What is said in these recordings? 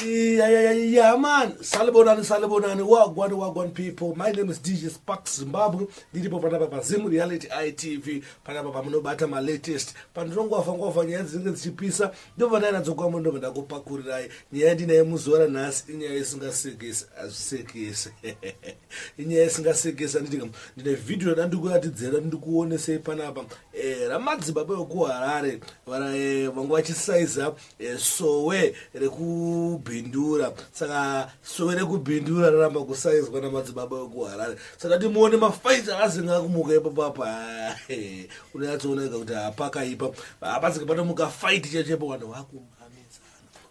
Yeah, man. Salibonani, Salibonani, Wagwan, Wagwan people. My name is DJ Spark Zimbabwe. Ndiripo panapa pa Zim Reality ITV. Panapa pamunobata ma latest. Pandinongova ngova nyaya dzinenge dzichipisa. Ndobva ndaenda dzokwambo ndobva ndakupakurirai. Nyaya ndinaye muzora nhasi inyaya isingasekesi, azvisekesi. inyaya isingasekesa nditika ndine vhidhiyo yada ndikuatidzera ndikuonesei panapa eh, ramadzibaba vekuharare eh, vanga vachisaiza eh, sowe rekubhindura saka sowe rekubhindura raramba kusaizwa namadzibaba vekuharare saka timuone mafaiti akazinga kumuka ipapapa unonyatsooneka kuti hapakaipa hapasika panomuka faiti chechepo vanhu vakumamisa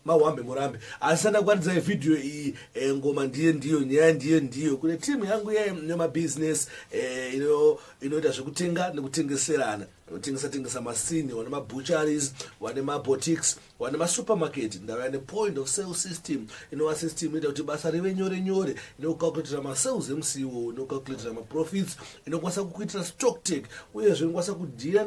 mawambe murambe asi andakwanidzai vhidhiyo iyi e, ngoma ndiye ndiyo nyaya ndiye ndiyo kune timu yangu yemabhizinesi e, eh, ino, inoita zvekutenga nekutengeserana vanotengesa tengesa masini wane mabucharies wane mabotics wane masupermarket ndava ne point of sale system inova system inoita kuti basa rive nyore nyore inokucalculatira masales emusi iwowo inokucalculatira maprofits inokwanisa kukuitira stock take uyezve inokwanisa kudhira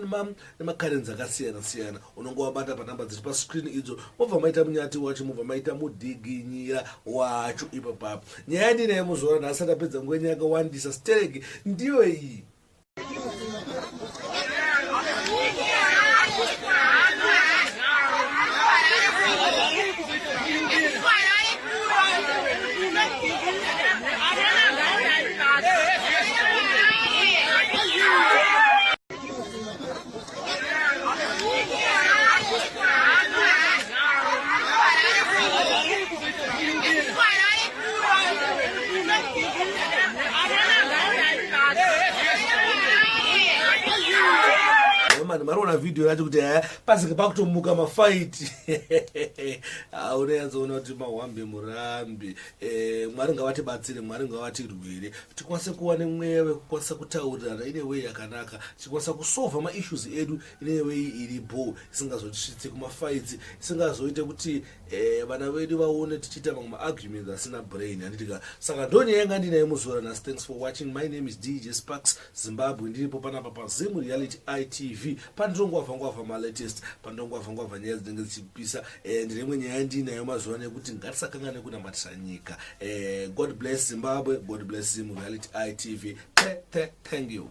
nemakarenzi akasiyana siyana unonge wabata panhamba dziri pascreen idzo mobva maita munyati wacho mobva maita mudhiginyira wacho ipo papo nyaya yandinaye muzora nhasi ndapedza nguva nyaya yakawandisa stereki ndiyo iyi mani mariona vhidhiyo yacho kuti haya pasika pakutomuka mafaiti auneyatsoona kuti mahwambe murambi Eh, mwari ngavatibatsire mwari ngavatirwire tikwanise kuva nemweya wekukwanisa kutaurirana ine wei yakanaka tikwanisa kusova maissues edu ine wei iri bho isingazotisvitsi kumafaitsi isingazoite kuti eh, vana vedu vaone tichiita mamwe maarguments asina brain handitika saka ndonyaya yanga ndinaye muzora nhasi thanks for watching my name is dj sparks Zimbabwe ndiripo panapa paZim Reality ITV pandinongwavha ngwavha malatest pandinongwavha ngwavha nyaya dzinenge dzichipisa eh, ndine imwe nyaya ndiinayo mazuva ano yekuti ngatisakangane kunamatisa nyika eh, God bless Zimbabwe God bless Zim Reality ITV thank you